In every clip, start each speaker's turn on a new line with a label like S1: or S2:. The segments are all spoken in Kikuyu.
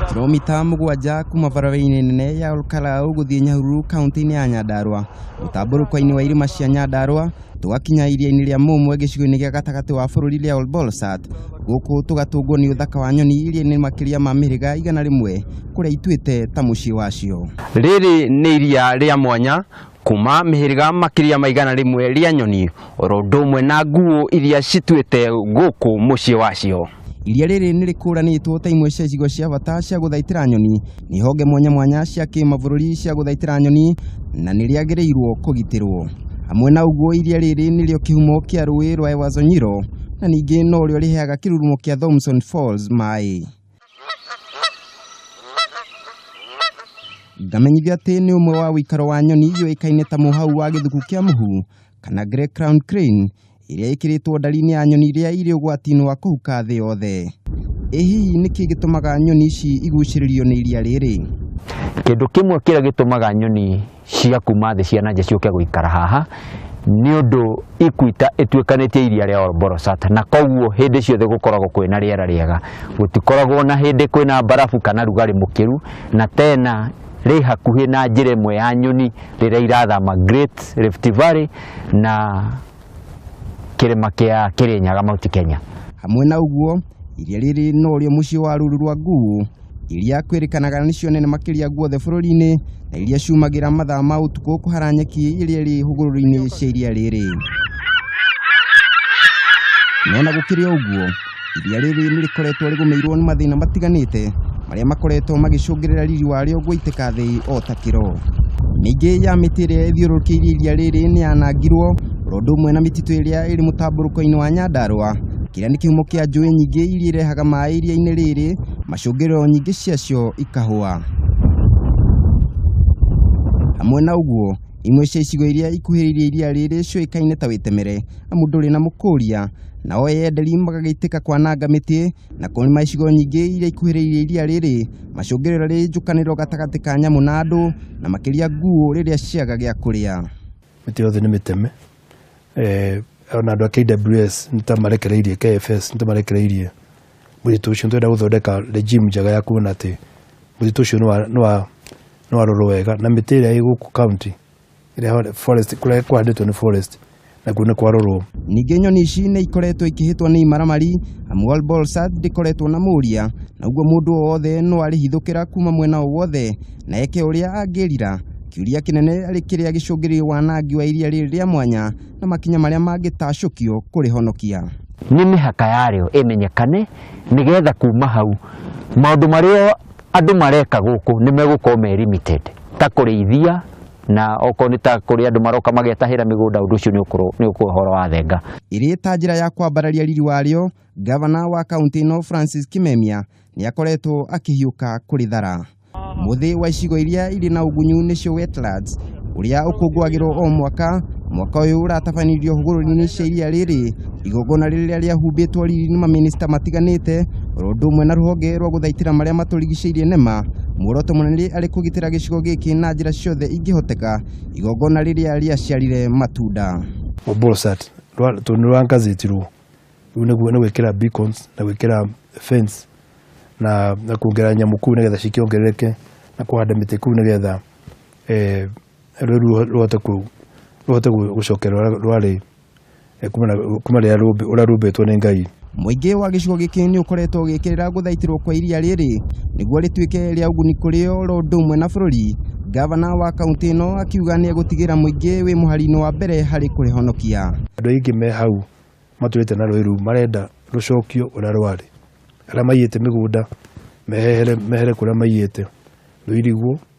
S1: Kilomita mũgwanja kuma barabara-inĩ nene ya Olkalau gũthiĩ Nyahururu kaunti-inĩ ya Nyandarua mũtambũrũko-inĩ wa irĩma cia Nyandarua tũgakinya iria-inĩ rĩa Mũmwe gĩcigo-inĩ gĩa gatagatĩ wa bũrũri rĩa Olbolsat gũkũ tũgatũngwo nĩ ũthaka wa nyoni iria nĩ makĩria ma mĩhĩrĩga igana rĩmwe kũrĩa ituĩte ta mũciĩ wacio. Rĩrĩ nĩ
S2: iria rĩa mwanya kuma mĩhĩrĩga makĩria ma igana rĩmwe rĩa nyoni oro ũndũ ũmwe na nguũ iria cituĩte gũkũ mũciĩ wacio. Iria rĩrĩ nĩ
S1: rĩkũranĩtwo ta imwe cia icigo cia bata cia gũthaitĩra nyoni nĩ honge mwanya mwanya cia kĩmabũrũri cia gũthaitĩra nyoni na nĩ rĩagĩrĩirwo kũgitĩrwo. Hamwe na ũguo iria rĩrĩ nĩrĩo kĩhumo kĩa rũĩ rwa Ewazonyiro na ningĩ norĩo rĩheaga kĩrurumo kĩa Thomson Falls maĩ. Ndamenyithio atĩ nĩ ũmwe wa ũikaro wa nyoni yũĩkaine ta mũhau wa gĩthuku kĩa mũhu kana grey crown crane ĩrĩa ĩkĩrĩtwo ndari-inĩ ya nyoni iria irĩ ũgwati-inĩ wa kũhuka thĩ yothe. Ĩ hihi nĩkĩ gĩtũmaga nyoni ici igucĩrĩrio nĩ iria rĩrĩ? Kĩndũ
S2: kĩmwe kĩrĩa gĩtũmaga nyoni cia kuma thĩ cia nanja ciũke gũikara haha nĩ ũndũ ikuita ĩtuĩkanĩtie iria rĩa Orborosat na koguo hĩndĩ ciothe gũkoragwo kwĩna rĩera rĩega gũtikoragwo na hĩndĩ kwĩna mbarabu kana rugarĩ mũkĩru na tena rĩ hakuhĩ na njĩra ĩmwe ya nyoni rĩrĩa irathama Great Rift Valley na kĩrĩma kĩa Kĩrĩnyaga Mount Kenya. Hamwe na ũguo,
S1: iria rĩrĩ no rĩo mũciĩ wa rũru rwa Nguu, iria kwĩrĩkanaga nĩcio nene makĩria guothe bũrũri-inĩ na iria ciumagĩra mathaa ma ũtukũ kũhara nyeki iria ĩrĩ hũgũrũrũ-inĩ cia iria rĩrĩ. Mena gũkĩrĩ o ũguo, Iria rĩrĩ nĩ rĩkoretwo rĩgũmĩirwo nĩ mathĩna matiganĩte marĩa makoretwo magĩcũngĩrĩra riri warĩo gũitĩka thĩ o ta kĩro. Mĩingĩ ya mĩtĩ ĩrĩa ĩthiũrũrũkĩirie iria rĩrĩ nĩ yanangirwo oro ũndũ ũmwe na mĩtitũ ĩrĩa ĩrĩ mũtambũrũko-inĩ wa Nyandarũa, kĩrĩa nĩ kĩhumo kĩa njũĩ nyingĩ iria irehaga maĩ iria-inĩ rĩrĩ, macũngĩrĩro nyingĩ ciacio ikahũa. Hamwe na ũguo, imwe cia icigo iria ikuhĩrĩirie iria rĩrĩ ciũĩkaine ta Wĩtemere amu ndũrĩ na mũkũria, nao eyenderi magagĩitĩka kwananga mĩtĩ na kũrĩma icigo nyingĩ iria ikuhĩrĩirie iria rĩrĩ macũngĩrĩro rĩrĩ njũkanĩrĩro gatagatĩ ka nyamũ na andũ na makĩria nguũ rĩrĩa ciaga gĩa kũrĩa mĩtĩ yothe nĩ
S3: mĩteme eh, ona andå a KWS nä ta marekereirie KFS nä ta marekereirie må titå å cio nä twenda gå thondeka regime njega ya kuona atä må titå å cio nä warorwo wega na mä tä ä rä a ä gå kå kaunti ĩrĩa forest kũrĩa kũhandĩtwo nĩ forest nakuo nĩ kwarorwo Ningĩ nyoni ici
S1: nĩ ikoretwo ikĩhĩtwo nĩ imaramari amu Al Bolsat ndĩkoretwo na mũria na ũguo mũndũ o wothe no arĩhithũkĩra kuma mwena o wothe na eke ũrĩa angĩrira. Kĩũria kĩnene arĩ kĩrĩa gĩcũngĩrĩirie wanangi wa iria rĩrĩ rĩa mwanya na makinya marĩa mangĩtacũkio kũrĩhonokia. nĩ mĩhaka
S2: yarĩo ĩmenyekane nĩgetha kuma hau maũndũ marĩa andũ mareka gũkũ nĩ megũkorwo me limited ta kũrĩithia na okorwo nĩ ta kũrĩ andũ maroka magetahĩra mĩgũnda ũndũ ũcio nĩ ũkorwo- nĩ ũkorwo ũhoro wa thenga Ĩrĩ ta njĩra ya
S1: kwambararia riri warĩo, gavana wa kaunti ĩno Francis Kimemia nĩ akoretwo akĩhiũka kũrĩthara. Mũthĩ wa icigo iria irĩ na ũgunyu nĩcio wetlands, ũrĩa ũkũngũagĩrwo o mwaka mwaka ũyũ ũratabanirio hũgũrũrũ-inĩ cia iria rĩrĩ igongona rĩrĩa rĩahumbĩtwo riri nĩ mamĩnĩsta matiganĩte oro ũndũ ũmwe na rũhonge rwa gũthaitĩra marĩa matũrigicĩirie nema muoroto mũnene arĩ kũgitĩra gĩcigo gĩkĩ na njĩra ciothe ingĩhoteka igongona rĩrĩa rĩaciarire matunda Obolsat
S3: rwa- tondũ nĩ rwangathĩtirwo rĩu nĩguo nĩ gwĩkĩra beacons na gwĩkĩra fence na na kuongerera nyamũ kuu nĩgetha cikĩongerereke na kũhanda mĩtĩ kuu nĩgetha eh, rũru rũhote kũ rũhote gũ- gũcokerwo rwa- rwarĩ eh, kuma na- kuma rĩrĩa rũmbi- ũrĩa rumbĩtwo nĩ ngai Mũingĩ wa gĩcigo
S1: gĩkĩ nĩ ũkoretwo ũgĩkĩrĩra gũthaitĩrwo kwa iria rĩrĩ nĩguo rĩtuĩke rĩa ũguni kũrĩ o ro ũndũ ũmwe na bũrũri. Gavana wa kaunti ĩno akiuga nĩ egũtigĩra mũingĩ wĩ mũhari-inĩ wa mbere harĩ kũrĩhonokia. andũ aingĩ me
S3: hau matũrĩte na rũĩ rũu marenda rũcokio ũrĩa rwarĩ arĩa maiyĩte mĩgũnda mehere mehere kũrĩa maiyĩte rũirigwo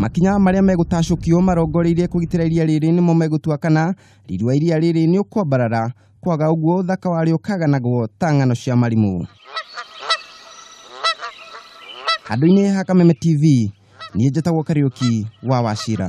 S3: Makinya marĩa
S1: megũtacũkio marongoreirie kũgitĩra iria rĩrĩ nĩmo megũtua kana riri wa iria rĩrĩ nĩ ũkwambarara, kwaga ũguo ũthaka warĩo ũkaganagwo ta ng'ano cia marimũ. Handũ-inĩ ha Kameme TV, niĩ njĩtagwo Kariũki wa Wachira.